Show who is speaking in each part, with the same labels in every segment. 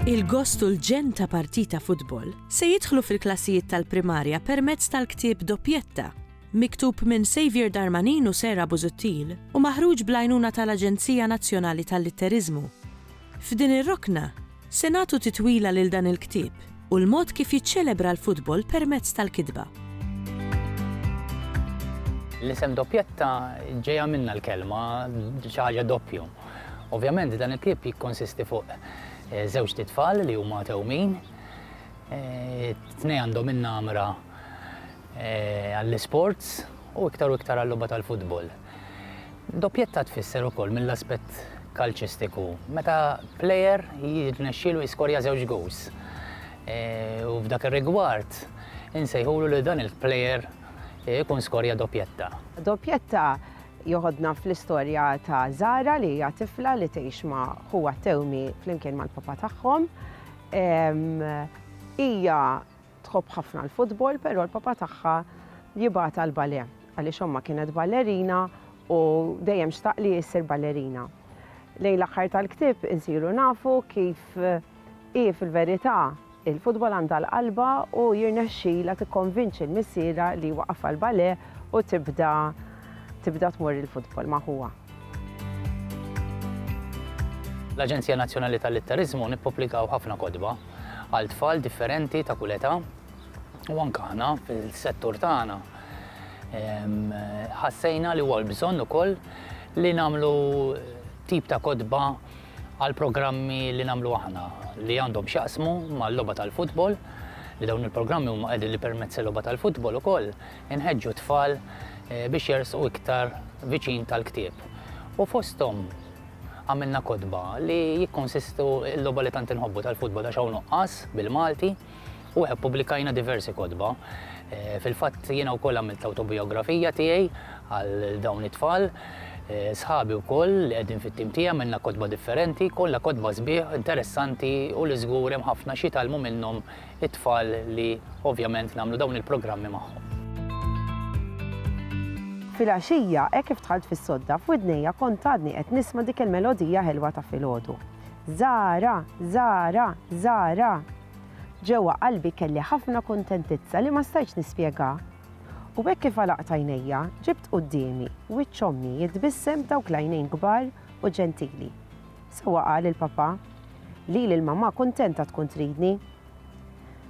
Speaker 1: Il-gost u l-ġenn ta' partita futbol se jidħlu fil-klassijiet tal-primarja permezz tal-ktieb Doppjetta, miktub minn Saviour Darmanin u Sarah Busuttil u maħruġ bl-għajnuna tal-Aġenzija Nazzjonali tal-Litteriżmu. F'din ir-rokna, se nagħtu titwila lil dan il-ktieb u l-mod kif jiċċelebra l-futbol permezz tal-kitba.
Speaker 2: L-isem Doppietta ġejja minnha l-kelma xi ħaġa doppju. Ovvjament dan il-ktieb jikkonsisti fuq eh, żewġt itfal li huma tewmin. Eh, tnej għandhom in-namra eh, għall-isports u iktar u iktar għall-logħba tal-futbol. Doppjetta tfisser ukoll mill-aspett kalċistiku meta plejer jirnexxielu jiskorja żewġ gowls. E, u f'dak ir-rigward insejħulu li dan il-plejer ikun skorja doppjetta. Doppjetta
Speaker 3: joħodna fl-istorja ta' Zara li hija tifla li tgħix ma' ħuha tewmi flimkien mal-papa tagħhom. Hija Tħobb ħafna l-futbol però l-papa tagħha jibgħatha għall-balè għaliex ommha kienet ballerina u dejjem xtaq li issir ballerina. Lejn l-aħħar tal-ktieb insiru nafu kif hi fil-verità il-futbol għandha l-qalba u jirnexxilha tikkonvinċi l-missierha li jwaqqafha l-balè u tibda tibda tmur il-futbol ma' ħuha.
Speaker 2: L-Aġenzija Nazzjonali tal-Litteriżmu nippubblikaw ħafna kotba għal tfal differenti ta' kull età u anke aħna fil-settur tagħna ħassejna li huwa l-bżonn ukoll li nagħmlu tip ta' kotba għal programmi li nagħmlu aħna li għandhom x'jaqsmu mal-logħba tal-futbol li dawn il-programmi huma qegħdin li permezz il-logħba tal-futbol ukoll Inħeġġu t-tfal biex jersqu iktar viċin tal-ktieb u fosthom għamilna kotba li jikkonsistu l-logħba li tant inħobbu tal-futbol għax hawn nuqqas bil-Malti u hekk pubblikajna diversi kotba. Eh, fil-fatt jiena wkoll għamilt autobiografija tiegħi għal dawn it-tfal. Eh, sħabi wkoll li qegħdin fit-tim tiegħi minna kotba differenti, kollha kotba sbieħ interessanti u li żgur hemm ħafna xi talmu minnhom it-tfal li ovvjament nagħmlu dawn il-programmi magħhom.
Speaker 3: Filgħaxija, hekk kif dħalt fis-sodda, f'widnejja kont għadni qed nisma' dik il-melodija ħelwa ta' filgħodu. Żara, żara, żara! Ġewwa qalbi kelli ħafna kuntentizza li ma stajtx nispjegha. U hekk kif għalaqt għajnejja, ġibt quddiemi wiċċ ommi jitbissem b'dawk l-għajnejn kbar u ġentili. Sewwa qal il-Papà, lili l-mamà kuntenta tkun tridni.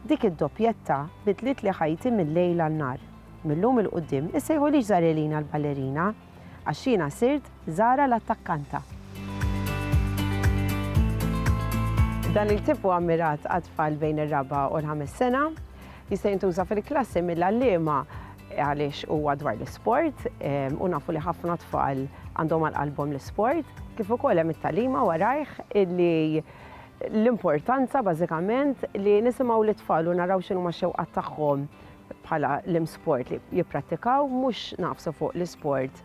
Speaker 3: Dik id-doppjetta bidlitli ħajti mil-lejl għan-nhar. Mil-lum 'il quddiem issejħulix Zarelina l-ballerina għax jiena sirt Zara l-attakkanta. Dan il-ktieb hu ammirat għat-tfal bejn ir-raba' u l-ħames sena. Jista' jintuża fil-klassi mill-għalliema għaliex huwa dwar l-isport u nafu li ħafna tfal għandhom għal qalbhom l-isport, kif ukoll hemm it-talima warajh illi l-importanza bażikament li nisimgħu lit-tfal u naraw x'inhuma x-xewqat tagħhom bħala l-imsport li jipprattikaw mhux naqfsu fuq l-isport